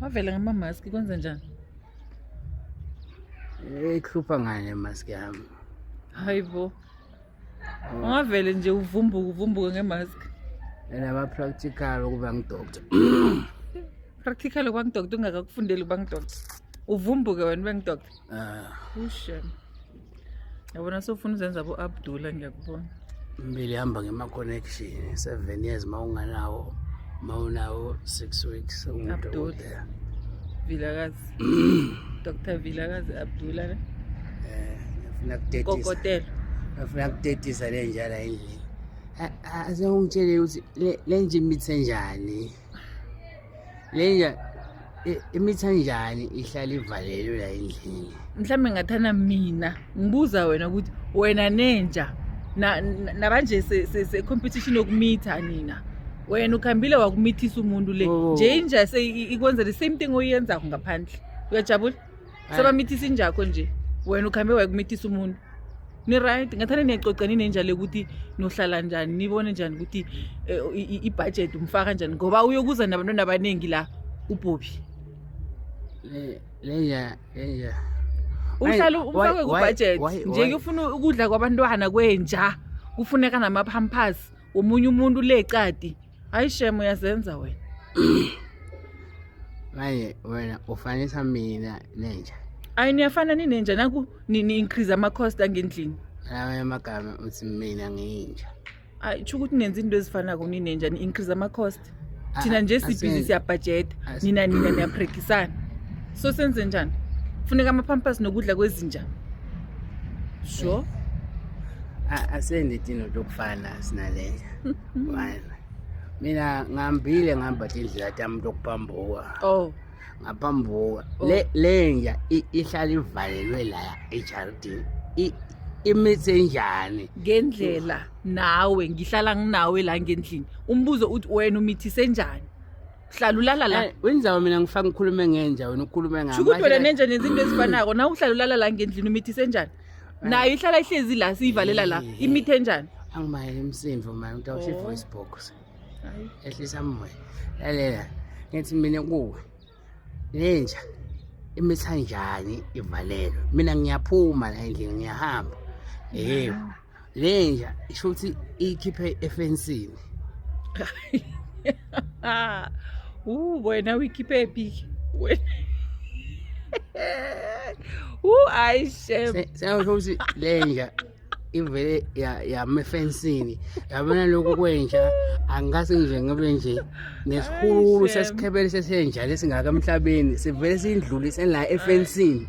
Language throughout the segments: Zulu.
wavela ngamamaski kwenze njani ihlupha ngani emaski yami hayi bo oh. ungavele nje uvumbuke uvumbuke ngemaski enama-practical ukuba ngidoctor practical ukuba ngidoctor ungakakufundeli ukuba ngidoctor uvumbuke wena ube ngidoctor Ah. Ushem. Yabona sofuna uzenza bo Abdullah ngiyakubona. Mbili hamba ngema connection 7 years mawunganawo mawunawo 6 weeks umuntu. Vilakazi. Dr. Vilakazi Abdullah ne? Eh, ngifuna kutetisa. Kokotela. Ngifuna kutetisa le njala endlini. Asewungitshele ukuthi le nje imithe njani. lenja imithi anjani ihlala ivalelwe la endlini mhlawumbe ngathana mina ngibuza wena ukuthi wena nenja nabanje se-competition yokumitha nina wena ukhambile wakumithisa umuntu le oh. nje inja ikwenza the same thing oyenzako ngaphandle uyajabula sebamithisa injakho nje wena ukhambe wayekumithisa umuntu ni-right ngathane niyacoca ninenja le ukuthi nohlala njani nibone njani ukuthi eh, i- i- ibhajethi umfaka njani ngoba uyokuza nabantwana abaningi la ubhobhi Le- leya leya uhlala Why- umfake why- kubhajethi why- nje why- kufuna ukudla kwabantwana kwenja kufuneka namaphampers womunye umuntu le cadi Hayi shem uyazenza wena. Manje wena ufanisa mina nenja. Hayi niyafana ninenja naku nini increase ama cost angendlini. Lawa amagama uthi mina nginja. Hayi tsho ukuthi nenza into ezifana ku ninenja ni increase ama cost. Ah, Thina nje ah, sibhizi asenze. siya budget As- nina nina niyaprekisana. So senze njani? Funeka ama pampers nokudla kwezinja. Sure. A- Asendi tino lokufana sinalenja. mina ngihambile ngihamba tindlela tami tokuphambuka oh ngaphambuka oh. le lenja ihlala ivalelwe la ejaridini imithi enjani ngendlela nawe ngihlala nginawe la ngendlini umbuzo uthi wena umithise enjani uhlala ulala la eh, wenzawo mina ngifaka ngikhulume ngenja wena ukhulume ngami shukuthi wena nenja nenza into ezifanako na uhlala ulala la ngendlini umithise enjani nayo ihlala ihlezi la siyivalela la Eh. imithe enjani angimayele umsindo mani ukuthi awusho i-voice box ehlisa moya lalela ngithi mina kuwe lenja imitha njani ivalelwe mina ngiyaphuma la endlini ngiyahamba yebo lenja isho ukuthi ikhiphe efensini uh wena uyikhiphe phi wena uh ayi shem sewusho ukuthi lenja ivele yama efensini yabona lokhu kwenja angikase nje ngibe nje nesikhulu sesikhebele sesenja lesingaka emhlabeni sivele sindlulise la efensini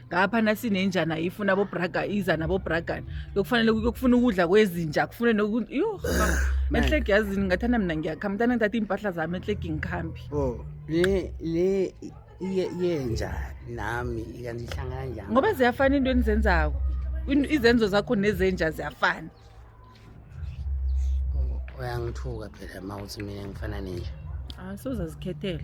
ngapha nasinenjana ifuna bobraga iza nabobragana yokufanele yokufuna ukudla kwezinja kufune noku yho mehlegi yazini ngathana mina ngiyakha mntana ngithatha iimpahla zami ehlegi ngikhambi Oh, le le iye yenja nami kanti ihlangana njani? ngoba ziyafana into enizenzako In- izenzo zakho nezenja ziyafana Oh, Uyangithuka phela mawuthi mina ngifana nenja. asozazikhethela